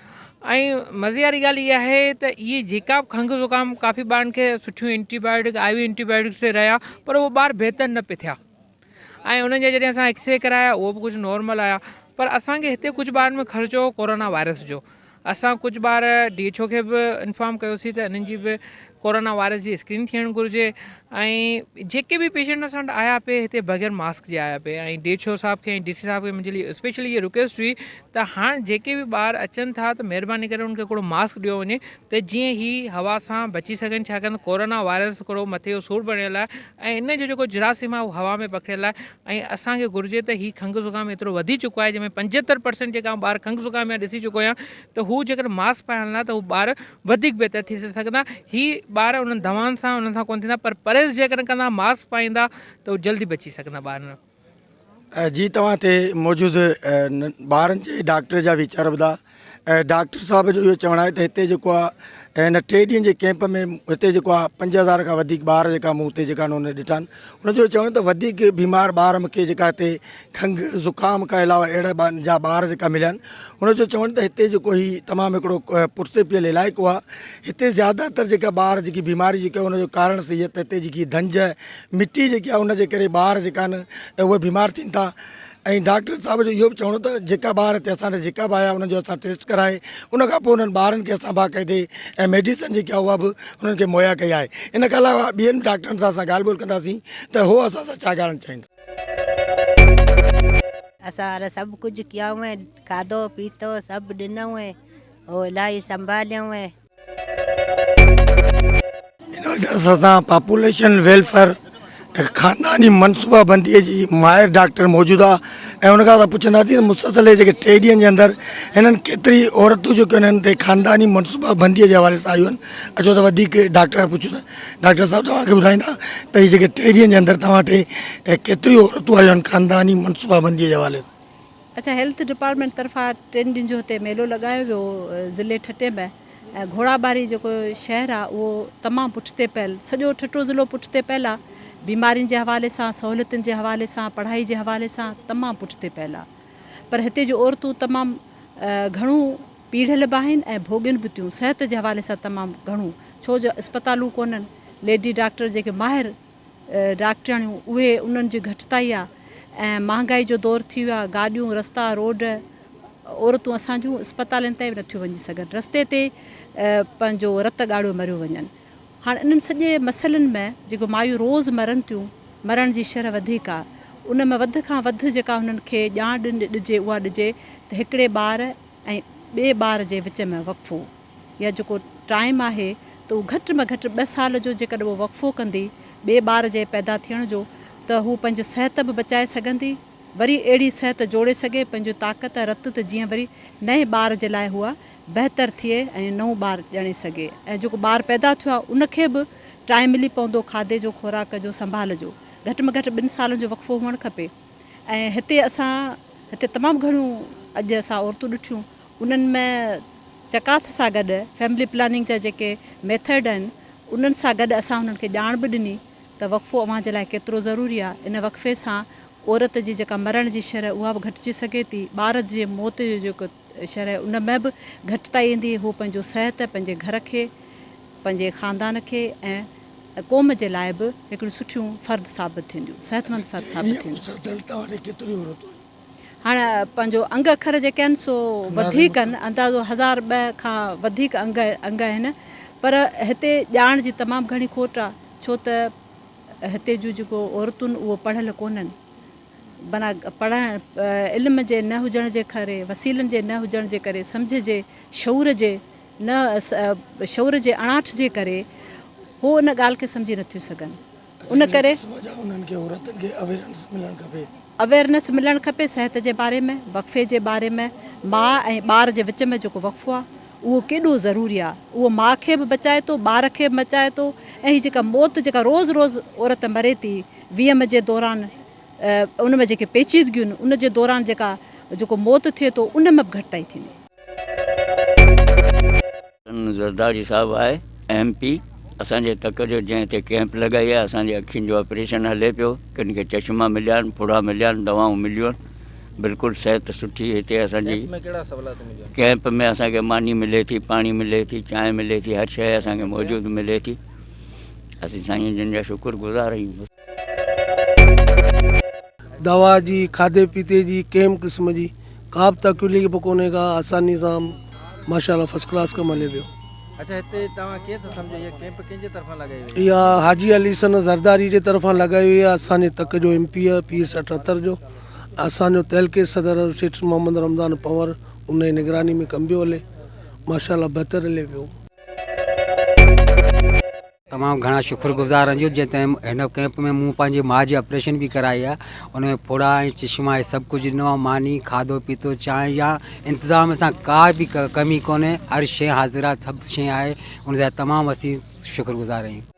۽ مزي واري ڳالهه اها آهي ته اهي جيڪا به کنگهه زڪام ڪافي ٻارن کي سٺيون antibiotic I V antibiotic سي رهيا پر اهي ٻار بهتر نه پي ٿيا ۽ انهن جا جڏهن اسان ايڪسري ڪرايا اهو به ڪجهه نارمل آيا پر اسانکي هتي ڪجهه ٻارن ۾ خرچو ڪورونا وائرس جو اسان ڪجهه ٻار ڊي ايڇ او کي به انفارم ڪيوسي ته انهن جي به ڪورونا وائرس جي اسڪرين ٿيڻ گهرجي ۽ جيڪي به پيشنٽ اسان وٽ آيا پي هتي بغير ماسڪ جي آيا پي ۽ ڊي ايڇ او صاحب کي ۽ ڊي سي صاحب کي منهنجي لئي اسپيشلي اهي رڪويسٽ هئي ته هاڻ جيڪي به ٻار اچن ٿا ته مهرباني ڪري انهن کي هڪڙو ماسڪ ڏيو وڃي ته جيئن هي هوا سان بچي سگهن ڇاڪاڻ ته ڪورونا وائرس هڪڙو مٿي جو سور بڻيل آهي ۽ ان جو جيڪو جراثيم آهي اهو هوا ۾ پکڙيل آهي ۽ اسان کي گهرجي ته هي کنگهه زڪام ايترو وڌي چڪو آهي جنهن ۾ پنجهتر پرسنٽ جيڪا آئون ٻار کنگهه زڪام جا ڏسي چڪو آهيان ته هو جيڪڏهن ماسڪ پائي هلندا ته هو ٻار وڌيڪ بهتر ٿي سگهندا. هي ٻار انهن دوائن سان انهن سان ڪونه ٿيندا پر پرهيز جيڪڏهن ڪندا ماسڪ پائيندا ته جلدي بچي سگهندا ٻار نه. جي توهان هتي موجود ٻارن جي ڊاڪٽر جا ويچار ٻڌا ڊاڪٽر صاحب جو اهو چوڻ آهي ته هتي جيڪو آهي هن ٽي ڏينهن جي ڪيمپ ۾ هتي جيڪو آهي پنج هزار کان وڌيڪ ٻار جيڪا مون هتي جيڪا انهن ڏٺا آهن انهن جو چوڻ ته وڌيڪ بيمار ٻار مونکي جيڪا هتي کنگهه زڪام کان علاوه اهڙا جا ٻار جيڪا مليا آهن ان جو چوڻ ته هتي جيڪو هي تمام هڪڙو پٺتي پيل علائقو آهي هتي زياده تر جيڪا ٻار جيڪي بيماري جيڪا ان جو ڪارڻ سهي آهي ته هتي جيڪي ڌنج مٽي جيڪي آهي ان جي ڪري ٻار جيڪا آهن اهي بيمار ٿين ٿا ۽ ڊاڪٽر صاحب جو اهو به چوڻ ته جيڪا ٻار هتي اسان ڏي جيڪا به آيا انهن جو اسان ٽيسٽ ڪرائي ان کان پوء انهن ٻارن کي اسان باقاعدي ۽ ميڊيسن جيڪي آهي اها به انهن کي مهيا ڪئي آهي ان کان علاوه ٻين ڊاڪٽرن سان اسان ڳالهه ٻولهه ڪنداسين ته هو اسان سان ڇا ڳالهائڻ چاهيندا اسان ھن سڀ ڪجھ ڪيائون ۽ کاڌو پيتو سڀ ڏنئون ۽ ھو الاھي سنڀاليائون ۽. ان وجھ سان اسان پاپوليشن ويلفيئر ۽ خانداني منصوبا بندي جي ماھر ڊاڪٽر موجود آ ۽ ان کان اسان پڇنداسين ته مسلسل اھي جيڪي ٽي ڏينھن جي اندر ھنن ڪيتري عورتون جيڪيون ھنن تي خانداني منصوبا بندي جي حوالي سان آيون اچو ته وڌيڪ ڊاڪٽر کان پڇون ٿا ڊاڪٽر صاحب توهان کي ٻڌائيندا ته هي جيڪي ٽي ڏينهن جي اندر توهان ٽي ڪيتريون عورتون آيون آهن خانداني منصوبابندي جي حوالي سان. اچا هيلٿ ڊپارٽمينٽ طرفان ٽن ڏينهن جو هتي ميلو لڳايو ويو ضلعي ٺٽي ۾ ۽ گهوڙاٻاري جيڪو شهر آ اهو تمام پٺتي پيل سڄو ٺٽو ضلعو پٺتي پيل آ بيمارين جي حوالي سان سهوليتن جي حوالي سان پڙهائي جي حوالي سان تمام پٺتي پيل آ پر هتي جون عورتون تمام گهڻو پيڙهيل به آهن ۽ ڀوڳين به ٿيون صحت جي حوالي سان تمام گهڻو ڇو جو اسپتالون ڪونهن ليڊي ڊاڪٽر جيڪي ماهر ڊاڪٽرياڻيون اهي انهن جي گهٽتائي آهي ۽ مهانگائي جو دور ٿي ويو آهي گاڏيون رستا روڊ عورتون اسان جون اسپتالين تائين به نٿيون وڃي سگهن رستي تي پنهنجو رت ڳاڙهيو مريو وڃن هاڻ انهن سڄي مسئلن ۾ جيڪو مايون روز مرن ٿيون مرڻ جي شرح وڌيڪ آهي ان ۾ وڌ کان وڌ جيڪا هنن کي ڄاڻ ڏجي اها ڏجي ته هڪڙي ٻار ۽ ٻئي ٻار جي وچ ۾ وقفو يا جيڪو ٽائيم آهي ته اهو گهٽ ۾ گهٽ ٻه سال جو جيڪڏهن هوء وقفو ڪندي ٻئي ٻار جي پيدا ٿيڻ جو ته هوء پنهنجي صحت به بچائي سگهندي وري اهڙي صحت جوڙي سگهي پنهنجي طاقت ۽ رت ته جيئن وري نئين ٻار جي لاء هوء بهتر ٿئي ۽ نئون ٻار ڄڻي سگهي ۽ جيڪو ٻار پيدا ٿيو آهي ان کي به ٽائيم ملي پوندو کاڌي جو خوراڪ جو سنڀال جو گهٽ ۾ گهٽ ٻن سالن جو وقفو هئڻ کپي. ۽ هتي اسان هتي تمام گهڻيون اڄ اسان عورتون ڏٺيون انهن ۾ چڪاس سان گڏ فيملي پلاننگ جا جيڪي ميٿڊ آهن انهن سان گڏ اسان انهن کي ڄاڻ به ڏني ته وقفو اوهان جي لاء ڪيترو ضروري آهي ان وقفي سان عورت جي جيڪا مرڻ جي شرح اها به گهٽجي سگهي ٿي ٻار جي موت جو جيڪو شرح ان ۾ به گهٽتائي ايندي، هو پنهنجو صحت، پنهنجي گهر کي، پنهنجي خاندان کي ۽ قوم جي لاء به هڪڙيون سٺيون فرد ثابت ٿينديون، صحتمند فرد ثابت ٿينديون. هاڻ پنهنجو انگ اکر جيڪي آهن سو وڌيڪ آهن، اندازو هزار ٻه کان وڌيڪ انگ انگ آهن، پر هتي ڄاڻ جي تمام گهڻي کوٽ آهي، ڇو ته هتي جون جيڪو عورتون اهو پڙهيل ڪونهن. بنا پڙهڻ، علم جي نه هجڻ جي ڪري، وسيلن جي نه هجڻ جي ڪري، سمجهه جي، شعور جي نه شعور جي اڻاٺ جي ڪري هو ان ڳالهه کي سمجهي نٿيون سگهن. ان ڪري انهن کي عورتن کي اويرنس ملڻ کپي. اويرنس ملڻ کپي صحت جي باري ۾ وقفي جي باري ۾ ماء ۽ ٻار جي وچ ۾ جيڪو وقفو آهي اهو ڪيڏو ضروري آهي اهو ماء کي به بچائي ٿو ٻار کي به بچائي ٿو ۽ هي جيڪا موت جيڪا روز روز عورت مري ٿي ويم جي دوران ان ۾ جيڪي پيچيدگيون آهن ان جي دوران جيڪا جيڪو موت ٿئي ٿو ان ۾ به گهٽتائي ٿيندي. سندن زرداري صاحب آء ايم پي اسان جي تڪ جو جنهن هتي ڪيمپ لڳائي آهي اسان جي اکين جو آپريشن هلي پيو ڪن کي چشما مليا آهن ڦڙا مليا آهن دوائون مليون آهن بلڪل صحت سٺي هتي اسان جي ڪيمپ ۾ اسان کي ماني ملي ٿي پاڻي ملي ٿي چانهه ملي ٿي هر شيء اسان کي موجود ملي ٿي اسين سائين جن جا شڪر گذار آهيون. دوا جي کاڌي پيتي جي ڪنهن به قسم جي ڪا به تڪليف به ڪونهي ڪا آساني سان ماشا الله فرسٽ ڪلاس ڪم هلي پيو. اچا هتي توهان ڪيئن ٿا سمجهو اها ڪيمپ ڪنهن جي طرفان لڳائي وئي آهي. اها حاجي علي حسن زرداري جي طرفان لڳائي وئي آهي اسان جي تڪ جو ايم پي آهي پي ايس اٺهتر جو اسان جو تعلقي صدر سيٺ محمد رمضان پنور ان جي نگراني ۾ ڪم پيو هلي ماشا الله بهتر هلي پيو. تمام گهڻا شڪر گذار رنجو جنهن تنهن هن ڪئمپ ۾ مون پنهنجي ماء جي آپريشن به ڪرائي آهي ان ۾ ڦوڙا ۽ چشما ۽ سڀ ڪجهه ڏنو آهي ماني کاڌو پيتو چانهه يا انتظام سان ڪا به ڪمي ڪونهي هر شيء حاضر آهي سڀ شيء آهي ان جا تمام اسين شڪر گذار آهيون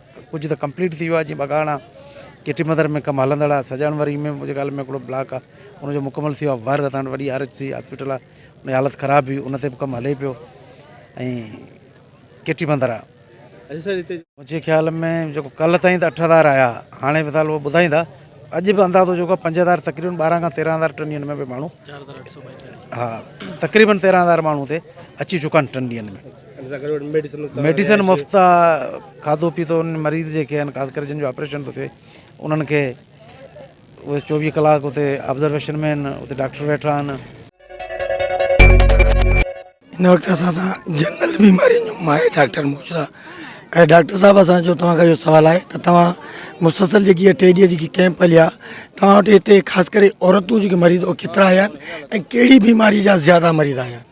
ڪجهه ته ڪمپليٽ ٿي ويو آهي جيئن ٻگهاڙا ڪيٽي مدر ۾ ڪم هلندڙ آهي سڄاڻ وري ۾ منهنجي خيال ۾ هڪڙو بلاڪ آهي ان جو مڪمل ٿي ويو آهي ور اسان وٽ وڏي آر ايڇ سي هاسپيٽل آهي ان جي حالت خراب هئي ان تي به ڪم هلي پيو ۽ ڪيٽي مدر آهي منهنجي خيال ۾ جيڪو ڪلهه تائين ته اٺ هزار آيا هاڻي فلحال اهو ٻڌائيندا اڄ به اندازو جيڪو آهي پنج هزار تقريبن ٻارهن کان تيرهن هزار ٽن ڏينهن ۾ به ماڻهو ها تقريبن تيرهن هزار ماڻهو هتي اچي چڪا آهن ٽن ڏينهن ۾ ميڊيسن مفت آ کاڌو پيتو انهن مريض جيڪي آهن خاص ڪري جن جو آپريشن ٿو ٿئي انهن کي اهي چوويهه ڪلاڪ اتي آبزرويشن ۾ آهن اتي ڊاڪٽر ويٺا آهن. هن وقت اسان سان جنرل بيمارين جو ماهر ڊاڪٽر موجود آ ۽ ڊاڪٽر صاحب اسان جو توهان کان اهو سوال آهي ته توهان مسلسل جيڪي اها ٽي ڏينهن جيڪي ڪيمپ هليا توهان وٽ هتي خاص ڪري عورتون جيڪي مريض هو ڪيترا آيا ۽ ڪهڙي بيماري جا زياده مريض آيا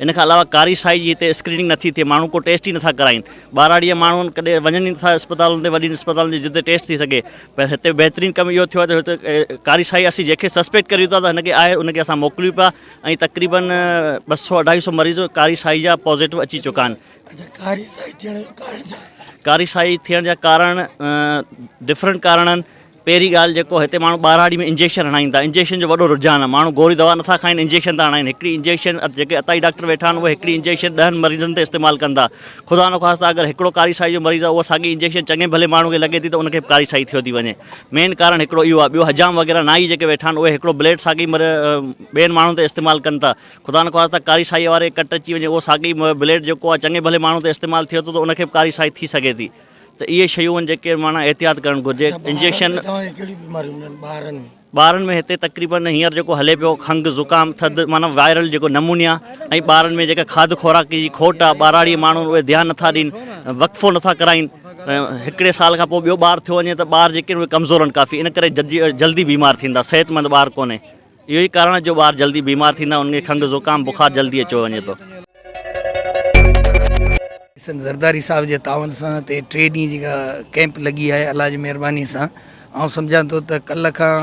ان کان علاوه ڪاري سائي جي هتي اسڪريننگ نه ٿي ٿئي ماڻهو ڪو ٽيسٽ ئي نه ٿا ڪرائين ٻهراڙيء جا ماڻهو ڪڏهن وڃن ئي نه ٿا اسپتالن تي وڏين اسپتالن جي جتي ٽيسٽ ٿي سگهي پر هتي بهترين ڪم اهو ٿيو آهي ته هتي ڪاري سائي اسين جنهن کي سسپيڪٽ ڪريون ٿا ته هن کي آهي ان کي اسان موڪليون پيا ۽ تقريبن ٻه سؤ اڍائي سؤ مريض ڪاري سائي جا پازيٽو اچي چڪا آهن ڪاري سائي ٿيڻ جا ڪارڻ ڪاري سائي ٿيڻ جا ڪارڻ ڊفرنٽ ڪارڻ آهن پهرين ڳالهه جيڪو هتي ماڻهو ٻهراڙي ۾ انجيڪشن هڻائين ٿا انجيڪشن جو وڏو رجحان آهي ماڻهو گوري دوا نٿا کائين انجيڪشن ٿا هڻائين هڪڙي انجيڪشن جيڪي اتائي ڊاڪٽر ويٺا آهن اهي هڪڙي انجيڪشن ڏهن مريضن تي استعمال ڪن ٿا خدا نخواسته اگر هڪڙو ڪاري سائي جو مريض آهي اها ساڳي انجيڪشن چڱي ڀلي ماڻهو کي لڳي ٿي ته ان کي به ڪاري سائي ٿيو ٿي وڃي مين ڪارڻ هڪڙو اهو آهي ٻيو حجام وغيره نائي جيڪي ويٺا آهن اهي هڪڙو بليڊ ساڳي ٻين ماڻهن تي استعمال ڪن ٿا خدا نخواسته ڪاري سائي واري ڪٽ اچي وڃي اهو ساڳي بليڊ جيڪو آهي چڱي ڀلي ماڻهو تي استعمال ٿيو ٿو ته ان کي به ڪاري سائي ٿي سگهي ٿي ته اهي شيون آهن جيڪي معنيٰ احتياط ڪرڻ گهرجي انجيڪشن ٻارن ۾ هتي تقريبن هينئر جيڪو هلي پيو کنگ زڪام ٿڌ معنيٰ وائرل جيڪو نمونيا ۽ ٻارن ۾ جيڪا کاڌ خوراڪ جي کوٽ آهي ٻاراڙي ماڻهو اهي ڌيان نٿا ڏين وقفو نٿا ڪرائين هڪڙي سال کان پوء ٻيو ٻار ٿيو وڃي ته ٻار جيڪي آهن اهي ڪمزور آهن ڪافي ان ڪري جلدي بيمار ٿيندا صحت مند ٻار ڪونهي اهو ئي ڪارڻ آهي جو ٻار جلدي بيمار ٿيندا آهن، انهن کي کنگهه، زڪام، بخار جلدي اچيو وڃي ٿو. حسن زرداري صاحب جي تعاون سان هتي ٽي ڏينهن جيڪا ڪئمپ لڳي آهي الله جي مهرباني سان آئون سمجهان ٿو ته ڪلهه کان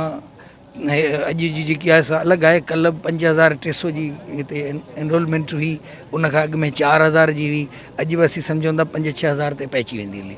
اڄ جي جيڪي آهي سا الڳ آهي ڪلهه به پنج هزار ٽي سو جي هتي انرولمينٽ هئي ان کان اڳ ۾ چار هزار جي هئي اڄ به اسين سمجهون ٿا پنج ڇهه هزار تي پهچي ويندي هلي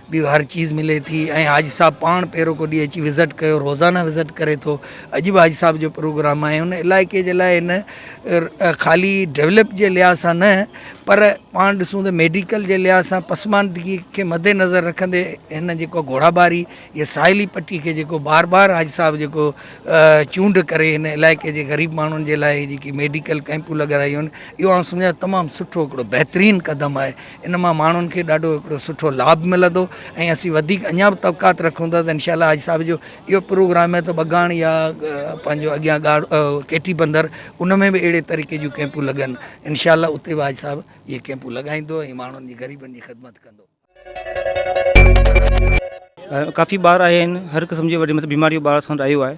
به هر چيز ملي ٿي ۽ حاجي صاحب پاڻ پيروڪو ڏينهن اچي وزٽ ڪيو روزانه وزٽ ڪري ٿو اڄ به حاجي صاحب جو پروگرام آهي ان علائقي جي لاء ان خالي ڊيولپ جي لحاظ سان نه پر پاڻ ڏسون ته ميڊيڪل جي لحاظ سان پسماندگي کي مد نظر رکندي هن جيڪو گهوڙا ٻاري يا ساحلي پٽي کي جيڪو بار بار حاجي صاحب جيڪو چونڊ ڪري هن علائقي جي غريب ماڻهن جي لاء جيڪي ميڊيڪل ڪئمپون لڳرايون آهن اهو آئون سمجهان ٿو تمام سٺو هڪڙو بهترين قدم آهي ان مان ماڻهن کي ڏاڍو هڪڙو سٺو لاڀ ملندو ۽ اسين وڌيڪ اڃا به طبقات رکون ٿا ته انشاء الله حاجي صاحب جو اهو پروگرام ته ٻگاڻ يا پنهنجو اڳيان ڳاڙ ڪيٽي بندر ان ۾ به اهڙي طريقي جون ڪيمپون لڳن انشاء الله اتي به حاجي صاحب اهي ڪيمپون لڳائيندو ۽ ماڻهن جي غريبن جي خدمت ڪندو. ڪافي ٻار آيا آهن هر قسم جي وڏي مطلب بيماري جو ٻار اسان وٽ آيو آهي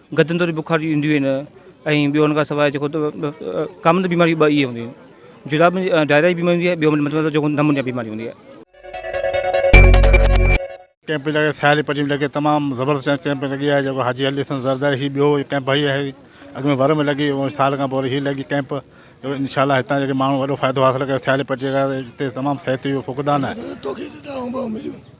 گدن تي بخار جي اينديون آهن ۽ ٻيو ان کان سواء جيڪو ڪامن بيماريون ٻه اهي هونديون آهن جراب ۾ ڊائريا جي بيماري هوندي آهي ٻيو مطلب جيڪو نمونيا بيماري هوندي آهي. ڪئمپ پئي لڳي سياري پٽي ۾ لڳي تمام زبردست ڪئمپ ڪئمپ لڳي آهي جيڪو حاجي علي حسن زرداري هي ٻيو ڪئمپ هي آهي اڳ ۾ ور ۾ لڳي هو سال کان پوء وري هي لڳي ڪئمپ جو انشاء الله هتان جيڪي ماڻهو وڏو فائدو حاصل ڪيو سياري پٽي کان هتي تمام صحت جو فقدان آهي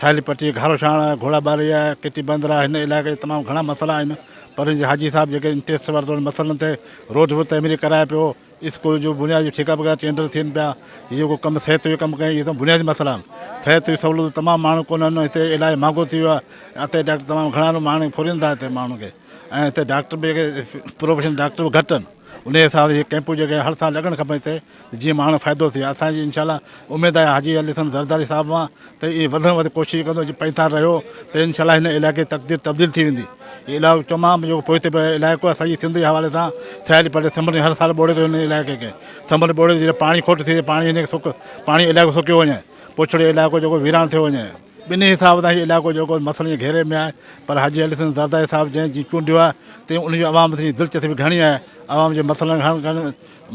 ساحلي پٽي، گهارو شاڻ، گهوڙا ٻاري، ڪيٽي بندر ۽ هن علائقي جا تمام گهڻا مسئلا آهن، پر هن جي حاجي صاحب جيڪي ان ٽيسٽ ورتو ان مسئلن تي روڊ به تعميري ڪرائي پيو، اسڪول جون بنيادي ٺيڪا وغيره ٽينڊر ٿين پيا، هي جيڪو ڪم صحت جو ڪم ڪيائين اهي تمام بنيادي مسئلا آهن، صحت جون سهولتون تمام ماڻهو ڪونهن هتي علاج مهانگو ٿي ويو آهي، اتي ڊاڪٽر تمام گهڻا آهن ماڻهو ڦرين ٿا هتي ماڻهن کي. ۽ اتي ڊاڪٽر به جيڪي پروفيشنل ڊاڪٽر به گهٽ آهن انهي حساب سان اهي ڪيمپون جيڪي هر سال لڳڻ کپن هتي ته جيئن ماڻهن کي فائدو ٿئي اسان جي انشاء الله اميد آهي حاجي علي حسن زرداري صاحب وان ته اهي وڌ کان وڌ ڪوشش ڪندو جي پنهتار رهيو ته انشاء الله هن علائقي جي تقدير تبديل ٿي ويندي هي علائقو تمام جيڪو پوئتي پيل علائقو آهي سڄي سنڌ جي حوالي سان سياحتي پٽي سمنڊ هر سال ٻوڙي ٿو هن علائقي کي سمنڊ ٻوڙي جڏهن پاڻي کٽ ٿئي پاڻي هن کي سڪ پاڻي علائقو سڪيو وڃي پڇڙي علائقو جيڪو ويران ٿيو وڃي ٻنهي حساب سان هي علائقو جيڪو مسئلن جي گهيري ۾ آهي پر حاجي علي حسن زرداري صاحب جنهن جي چونڊيو آهي تنهن ان جي عوام سين دلچسپي گهڻي آهي عوام جي مسئلن کي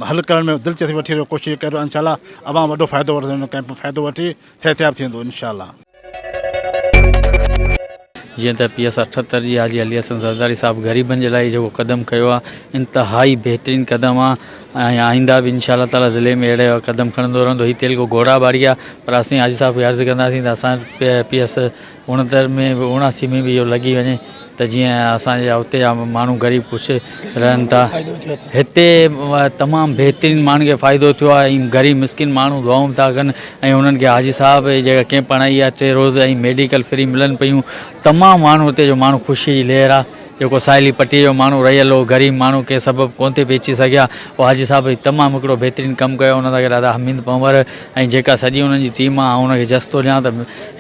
حل ڪرڻ ۾ دلچسپي وٺي رهيو ڪوشش ڪري رهيو انشاءالله عوام وڏو فائدو وٺندو ان ڪئمپ مان فائدو وٺي صحتياب ٿيندو انشاءالله. جيئن ته پي ايس اٺهتر جي حاجي علي حسن زرداري صاحب غريبن جي لاء جيڪو قدم کنيو آهي انتهائي بهترين قدم آهي ۽ آئنده به انشاء الله تعالي ضلعي ۾ اهڙي قدم کڻندو رهندو هي تيلگو گهوڙا ٻاري آ پر اسين حاجي صاحب کي عرض ڪنداسين ته اسان پي ايس اوڻهتر ۾ به اوڻاسي ۾ به اهو لڳي وڃي ته جيئن اسان جا اتي جا ماڻهو غريب خوش رهن ٿا هتي تمام بهترين ماڻهن کي فائدو ٿيو آهي ۽ غريب مسڪين ماڻهو دعائون ٿا ڪن ۽ انهن کي حاجي صاحب جيڪا ڪيمپ هڻائي آهي ٽي روز ۽ ميڊيڪل فري ملن پيون تمام ماڻهو هتي جو ماڻهو خوشي جي لهر آ جيڪو ساحلي پٽيء جو ماڻهو رهيل هو، غريب ماڻهو ڪنهن سبب ڪونه ٿي پهچي سگهيا، اهو حاجي صاحب هي تمام هڪڙو بهترين ڪم ڪيو، ان سان گڏ ادا حميد پنهور ۽ جيڪا سڄي انهن جي ٽيم آهي، آئون انهن کي جس ٿو ڏيان ته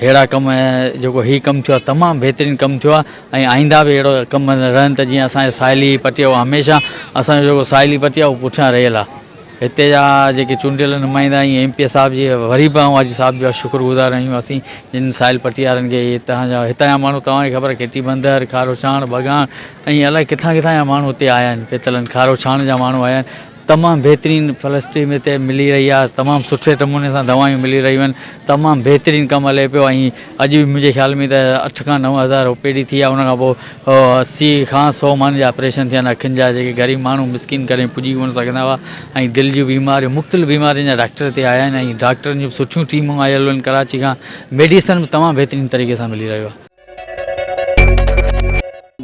ههڙا ڪم ۽ جيڪو هي ڪم ٿيو آهي تمام بهترين ڪم ٿيو آهي ۽ آئنده به اهڙو ڪم رهن ته جيئن اسان جي ساحلي پٽي اهو هميشه اسان جو جيڪو ساحلي پٽي آهي اهو پٺيان رهيل آهي. هتي جا جيڪي چونڊيل نمائندا ۽ ايم پي اي صاحب جي وري به آئون حاجي صاحب جا شڪر گذار آهيون اسين جن سائل پٽيارن کي هتان جا هتان جا ماڻهو توهان کي خبر کيٽي بندر کاروڇاڻ ڀڳاڻ ۽ الائي ڪٿان ڪٿان جا ماڻهو هتي آيا آهن پيتلن کاروڇاڻ جا ماڻهو آيا آهن تمام بهترين فلسٽي متي ملي رهي آهي تمام سٺي نموني سان دوائيون ملي رهيون آهن تمام بهترين ڪم هلي پيو ۽ اڄ به منهنجي خيال ۾ ته اٺ کان نو هزار او پي ڊي ٿي آ ان کان پوء اسي کان سؤ ماڻهن جا آپريشن ٿيا آهن اکين جا جيڪي غريب ماڻهو مسڪين ڪڏهن پڄي ڪونه سگهندا هئا ۽ دل جون بيماريون مختلف بيمارين جا ڊاڪٽر هتي آيا آهن ۽ ڊاڪٽرن جون سٺيون ٽيمون آيل آهن ڪراچي کان ميڊيسن به تمام بهترين طريقي سان ملي رهيو آهي.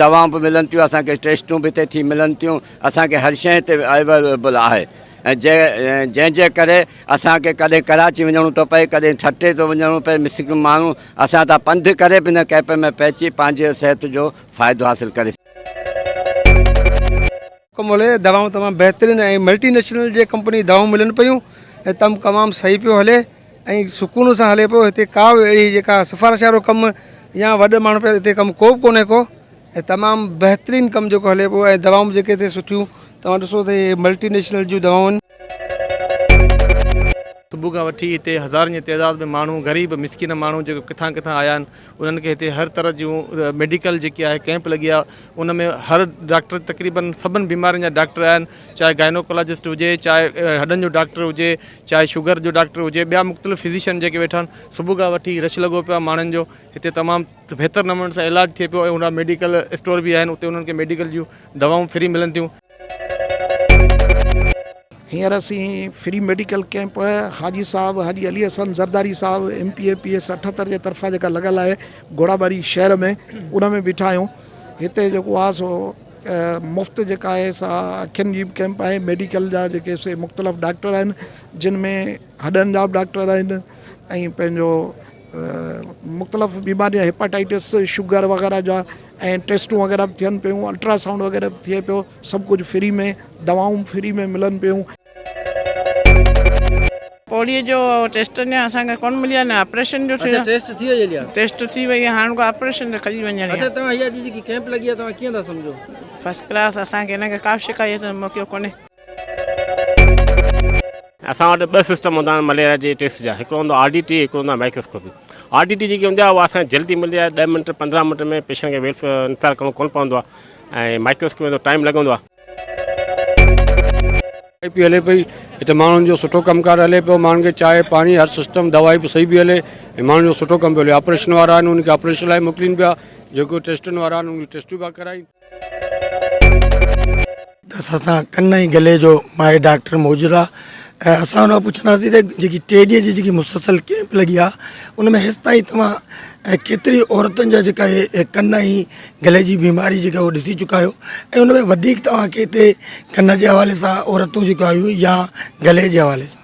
دوائون به ملن ٿيون اسان کي ٽيسٽون به هتي ٿي ملن ٿيون اسان کي هر شيء هتي اويليبل آهي. جنهن جي ڪري اسان کي ڪڏهن ڪراچي وڃڻو ٿو پئي ڪڏهن ٺٽي ٿو وڃڻو پئي مسڪين ماڻهو اسان تان پنڌ ڪري به هن ڪئمپ ۾ پهچي پنهنجي صحت جو فائدو حاصل ڪري ڪم هلي دوائون تمام بهترين ۽ ملٽي نيشنل جي ڪمپني دوائون ملن پيون ۽ تم تمام صحيح پيو هلي ۽ سڪون سان هلي پيو هتي ڪا به اهڙي جيڪا سفارش وارو ڪم يا وڏ ماڻهو پيا هتي ڪم ڪو به ڪونهي ڪو ۽ تمام بهترين ڪم جيڪو هلي پيو ۽ دوائون به جيڪي هتي سٺيون توهان ڏسو ته هي ملٽي نيشنل جون دوائون آهن. صبح کان وٺي هتي هزارن جي تعداد ۾ ماڻهو غريب مسڪين ماڻهو جيڪي ڪٿان ڪٿان آيا آهن انهن کي هتي هر طرح جون ميڊيڪل جيڪي آهي ڪئمپ لڳي آهي ان ۾ هر ڊاڪٽر تقريبن سڀن بيمارين جا ڊاڪٽر آيا آهن چاهي گائنوڪولاجسٽ هجي چاهي هڏن جو ڊاڪٽر هجي چاهي شگر جو ڊاڪٽر هجي ٻيا مختلف فزيشن جيڪي ويٺا آهن صبح کان وٺي رش لڳو پيو آهي ماڻهن جو هتي تمام ته بهتر نموني سان علاج ٿئي پيو ۽ هن ميڊيڪل اسٽور به آهن اتي انهن کي ميڊيڪل جون دوائون فري ملن ٿيون. هينئر اسين free medical camp Haji sahib Haji Ali Hassan Zardari sahib M P A P S اٺهتر جي طرفان جيڪا لڳل آهي گهوڙاٻاري شهر ۾ ان ۾ بيٺا آهيون هتي جيڪو آهي سو مفت جيڪا آهي سا اکين جي به ڪيمپ آهي ميڊيڪل جا جيڪي سي مختلف ڊاڪٽر آهن جن ۾ هڏن جا به ڊاڪٽر آهن ۽ پنهنجو مختلف بيماريون هيپاٽائيٽس شگر وغيره جا ۽ ٽيسٽون وغيره به ٿين پيون الٽرا سائونڊ وغيره به ٿئي پيو سڀ ڪجهه فري ۾ دوائون به فري ۾ ملن پيون. پوڙهي جو ٽيسٽ اڃان اسان کي ڪونه ملي آهي نه آپريشن جو ٿيو آهي ٽيسٽ ٿي وئي آهي هاڻ ڪو آپريشن تي کڄي وڃڻ آهي فرسٽ ڪلاس اسان کي ان ڪي ڪا به شڪايت موڪليو ڪونه. اسان وٽ ٻه سسٽم هوندا آهن مليريا جي ٽيسٽ جا هڪڙو هوندو آر ڊي ٽي هڪڙو هوندو آهي مائڪروسڪوپي آر ڊي ٽي جيڪي هوندي آهي اها اسان کي جلدي ملندي آهي ڏهه منٽ پندرهن منٽ ۾ پيشنٽ کي ويلف انتظار ڪرڻو ڪونه پوندو آهي ۽ مائڪروسڪوپي ۾ ٿورو ٽائيم لڳندو آهي. چانهه پي هلي پئي هتي ماڻهن جو سٺو ڪم ڪار هلي پيو ماڻهن کي چانهه پاڻي هر سسٽم دوائي به صحيح پي هلي ۽ ماڻهن جو سٺو ڪم پيو هلي آپريشن وارا آهن ان کي آپريشن لاء موڪلين پيا جيڪو ٽيسٽن وارا آهن ان جون ٽيسٽون پيا ڪرائين ته اسان سان ڪن ۽ گلي جو ماهر ڊاڪٽر موجود آ ۽ اسان ان کان پڇنداسين ته جيڪي ٽي ڏينهن جي جيڪي مسلسل ڪيمپ لڳي آ ان ۾ هيس تائين توهان ڪيتري عورتن جا جيڪا اهي ڪن ۽ گلي جي بيماري جيڪا اهو ڏسي چڪا آهيو ۽ ان ۾ وڌيڪ توهان کي هتي ڪن جي حوالي سان عورتون جيڪو آيون يا گلي جي حوالي سان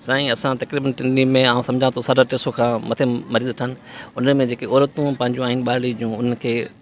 سائين اسان تقريبن ٽن ڏينهن ۾ آئون سمجهان ٿو ساڍا ٽي سو کان مٿي مريض ٿا ان ۾ جيڪي عورتون پنهنجون آهن ٻارڙي جون انهن کي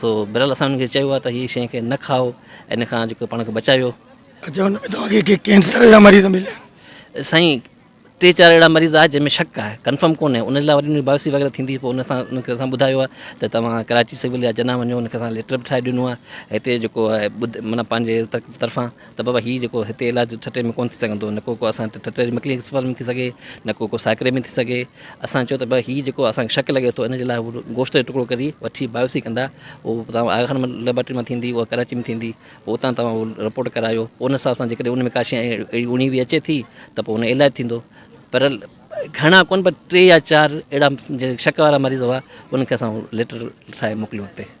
سو بھرحال اسان انھن کي چيو آھي ته ھي شين کي نه کائو ۽ ان کان جيڪو پاڻ کي بچايو. اچا ان ۾ توھان کي ڪي ڪينسر جا مريض مليا آھن؟ سائين ٽي چار اھڙا مريض آھي جنھن ۾ شڪ آھي ڪنفرم ڪونھي ان جي لاء وري بايوسي وغيره ٿيندي پوء ان سان انھن کي اسان ٻڌايو آھي ته توھان ڪراچي سول يا جناح وڃو ان کي اسان ليٽر به ٺاھي ڏنو آھي ھتي جيڪو آھي معنيٰ پنھنجي طرفان ته بابا هي جيڪو هتي علاج ٺٽي ۾ ڪونه ٿي سگهندو نه ڪو ڪو اسان ٺٽي جي مڪلي اسپتال ۾ ٿي سگهي نه ڪو ڪو ساڪري ۾ ٿي سگهي اسان چيو ته بابا هي جيڪو اسانکي شڪ لڳي ٿو ان جي لاء گوشت جو ٽڪڙو ڪري وٺي بايوسي ڪندا هو تان آغا خان ليبارٽري مان ٿيندي هو ڪراچي ۾ ٿيندي پوء اتان تان هو رپورٽ ڪرايو ان حساب سان جيڪڏهن ان ۾ ڪاشي اهڙي اوڻي وي اچي ٿي ته پوء ان جو علاج ٿيندو پر گهڻا ڪونه پر ٽي يا چار اهڙا شڪ وارا مريض هئا انکي اسان ليٽر ٺاهي موڪليو اتي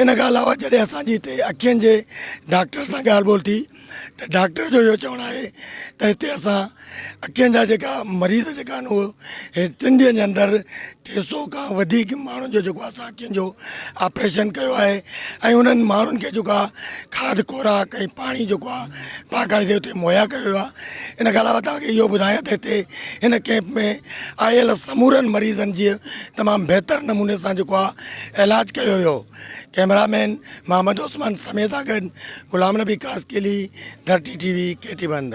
ان کان علاوه جڏهن اسان جي هتي اکين جي ڊاڪٽر سان ڳالهه ٻولهه ٿي ته ڊاڪٽر جو اهو چوڻ آهي ته هتي اسان اکين جا جيڪا مريض جيڪا آهن اهو هي ٽن ڏينهن جي اندر ٽي سو کان وڌيڪ ماڻهن جو جيڪو اسان اکين جو آپريشن ڪيو آهي ۽ انهن ماڻهن کي جيڪا کاڌ خوراڪ ۽ پاڻي جيڪو آهي باقاعدي هتي مهيا ڪيو ويو آهي ان کان علاوه توهان کي اهو ٻڌايان ته هتي هن ڪئمپ ۾ آيل سمورن مريضن جي تمام بهتر نموني سان جيڪو آهي اعلاج ڪيو ويو. ڪئميرا مين محمد عثمان سميع سان گڏ غلام نبي قاسقلي، ڌرتي ٽي وي، ڪي ٽي بند.